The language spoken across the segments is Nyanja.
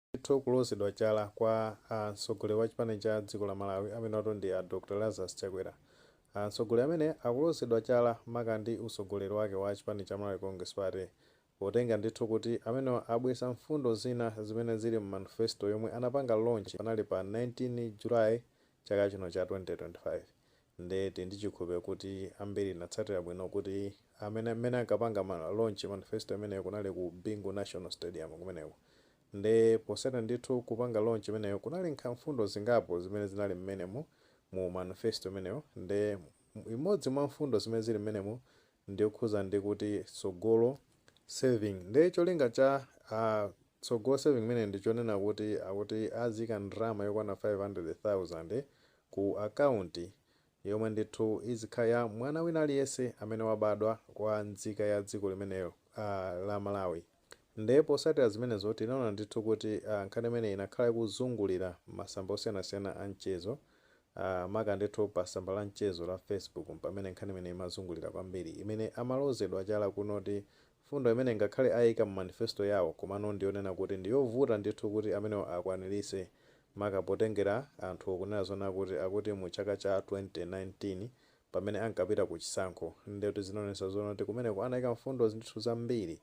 Ndithu kulozedwa chala kwa mtsogoleri wa chipani cha dziko la Malawi amenewatu ndi a Dr Lazarus Chakwera. Mtsogoleri amene akulozedwa chala maka ndi utsogoleri wake wa chipani cha Malawi Congress Party potenga ndithu kuti amenewa abweza mfundo zina zimene zili mu manifesto yomwe anapanga launch panali pa 19 July chaka chino cha 2025. nde tili ndi chikhulupiliro kuti ambiri tinatsatira bwino kuti amene mmene ankapanga launch manifesto imeneyo kunali ku Bingu National Stadium kumeneko nde posatira ndithu kupanga launch imeneyo kunali nkha mfundo zingapo zimene zinali mmenemu mu manifesto imeneyo nde imodzi mwa mfundo zimene zili mmenemo ndiyokhuza ndi kuti Tsogolo Saving nde cholinga cha a Tsogolo Saving imeneyi ndi chonena kuti akuti aziika ndalama yokwana 500,000 ku akaunti yomwe ndithu izikhala ya mwana wina aliyense amene wabadwa kwa nzika ya dziko limenelo la Malawi. Nde posatira zimenezo tinaona ndithu kuti nkhani imeneyi inakhala ikuzungulira masamba osiyanasiyana a mchezo maka ndithu pa samba la mchezo la Facebook mpamene nkhani imeneyi imazungulira kwambiri imene amalozedwa chala kunoti Mfundo imene ngakhale aika mu manifesto yawo komano ndiyonena kuti ndiyovuta ndithu kuti amenewa akwanilitse maka potengera anthuwo kunena zonena kuti akuti mu chaka cha 2019 pamene ankapita ku chisankho ndiye kuti zinaonetsa zoona kuti kumeneko anaika mfundo ndithu zambiri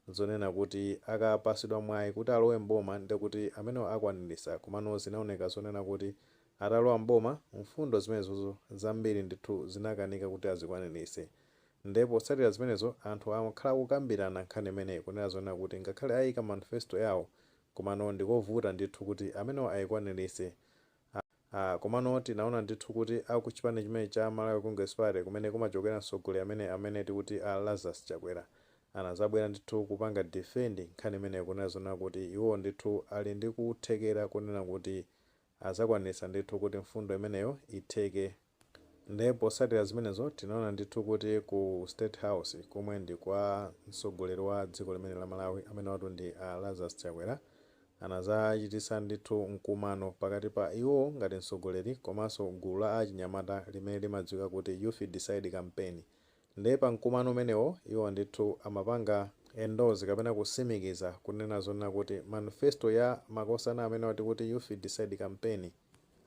zonena kuti akapasidwa mwayi kuti alowe m'boma ndiye kuti amenewa akwanilitsa komano zinaoneka zonena kuti atalowa m'boma mfundo zimenezozo zambiri ndithu zinakanika kuti azikwanilitse Nde potsatira zimenezo, anthu akhala akukambirana nkhani imeneyi kunena zonena kuti ngakhale ayika manifesto yawo komano ndikovuta ndithu kuti amenewo ayikwanilitse. A, a, komano tinaona ndithu kuti a ku chipani chimenechi cha Malawi Congress Party kumene kumachokera mtsogoleri amene amene tikuti a Lazarus Chakwera anazabwera ndithu kupanga defend nkhani imeneyo kunena zonena kuti iwowo ndithu ali ndi kuthekera konena kuti Azakwanitsa ndithu kuti mfundo imeneyo itheke. Nde posatira zimenezo tinaona ndithu kuti ku state house komwe ndi kwa mtsogoleri wa dziko limene la Malawi amenewatu ndi a Lazarus Chakwera anazachititsa ndithu mkumano pakati pa iwo ngati mtsogoleri komanso gulu la achinyamata limene limadziwika kuti Youth Decide Campaign Ndiye pa mkumano umenewo iwo ndithu amapanga endorse kapena kusimikiza kunena zonena kuti manifesto ya makosana amenewa tikuti Youth Decide Campaign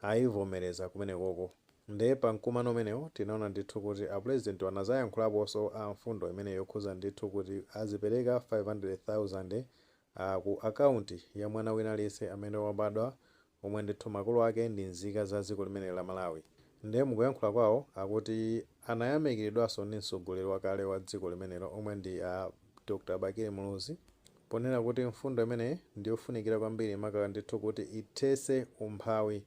ayivomereza kumenekoko. Ndiye pa mkumano umenewo tinaona ndithu kuti a Pulezidentiwo anazayankhulaponso a mfundo imeneyi yokhuza ndithu kuti azipereka 500,000 a ku akaunti ya mwana wina aliyense amene wabadwa omwe ndithu makolo ake ndi nzika za dziko limeneli la Malawi nde mukuyankhula kwawo akuti anayamikilidwaso ndi mtsogoleri wakale wa dziko limenelo omwe ndi a Dr Bakili Muluzi ponena kuti mfundo imeneyi ndiyofunikira kwambiri maka ndithu kuti ithese umphawi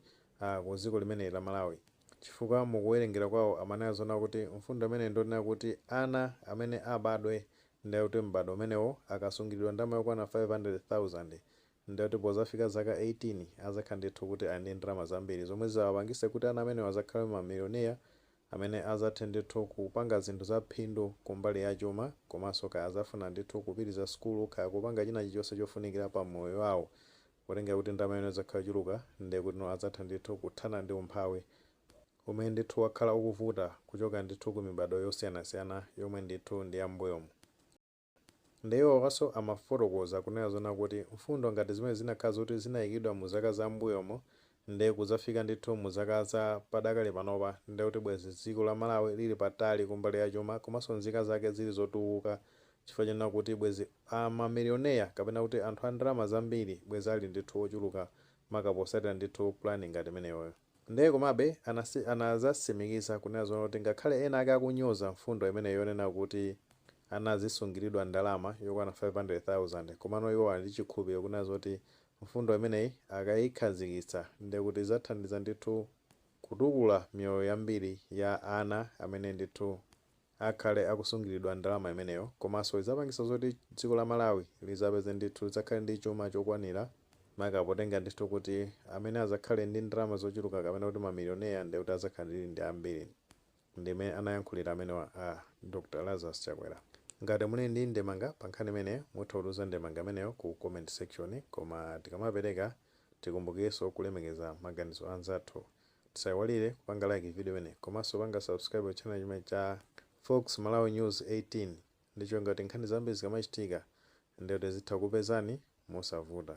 ku dziko limeneli la Malawi chifukwa mukuwelengera kwawo amanena zoona kuti mfundo imeneyi ndonena kuti ana amene abadwe ndekuti m'bado umenewo akasungilidwa ndalama yokwana 500,000 Ndiye kuti pozafika zaka 18 azakhala ndithu kuti ali ndi ndalama zambiri zomwe zizawapangise kuti ana amenewa azakhale ma millionaire amene azathe ndithu kupanga zinthu za phindu kumbali ya chuma komanso kaya azafuna ndithu kupitiliza sukulu kaya kupanga china chilichonse chofunikila pa moyo wawo potengera kuti ndalama imene izakhala yochuluka ndiye kutino azatha ndithu kuthana ndi umphawi umene ndithu wakhala ukuvuta kuchoka ndithu ku mibado yosiyanasiyana yomwe ndithu ndi ya m'mbuyomu. Nde iwowaso amafotokoza kunena zoona kuti mfundo ngati zimenezi zinakhala zoti zinayikidwa mu zaka za m'mbuyomo nde kudzafika ndithu mu zaka za padakali panopa nde kuti bwezi dziko la Malawi lili patali kumbali ya chuma komanso nzika zake zili zotukuka chifukwa chonena kuti bwezi ma Millionaire kapena kuti anthu a ndalama zambiri bwezi ali ndithu ochuluka maka posatira ndithu plan ngati imeneyoyo. Ndiye komabe anadzasimikiza kunena zoona kuti ngakhale ena ake akunyoza mfundo imeneyi yonena kuti ana adzisungiridwa ndalama yokwana 500,000, komano iwo ali ndi chikhulupiriro kunena zoti mfundo imeneyi akaikhazikitsa ndiye kuti idzathandiza ndithu kutukula miyoyo yambiri ya ana amene ndithu. akhale akusungilidwa ndalama imeneyo komaso idzapangisa zoti dziko la Malawi lidzapeze ndithu lidzakhale ndi chuma chokwanila maka potenga ndithu kuti amene adzakhale ndi ndalama zochuluka kapena kuti ma millionaire ndekuti adzakhale ndi ambiri ndimene anayankhulira amenewa a Dr Lazarus Chakwera ngati muli ndi ndemanga pa nkhani imeneyo mutha kutumiza ndemanga imeneyo ku comment section koma tikamapeleka tikumbukireso kulemekeza maganizo anzathu Tisaiwalire kupanga like video imeneyi komanso panga subscribe channel chimenechi cha Fox Malawi News 18 ndi cholinga kuti nkhani zambiri zikamachitika ndiye kuti zizitha kukupezani mosavuta.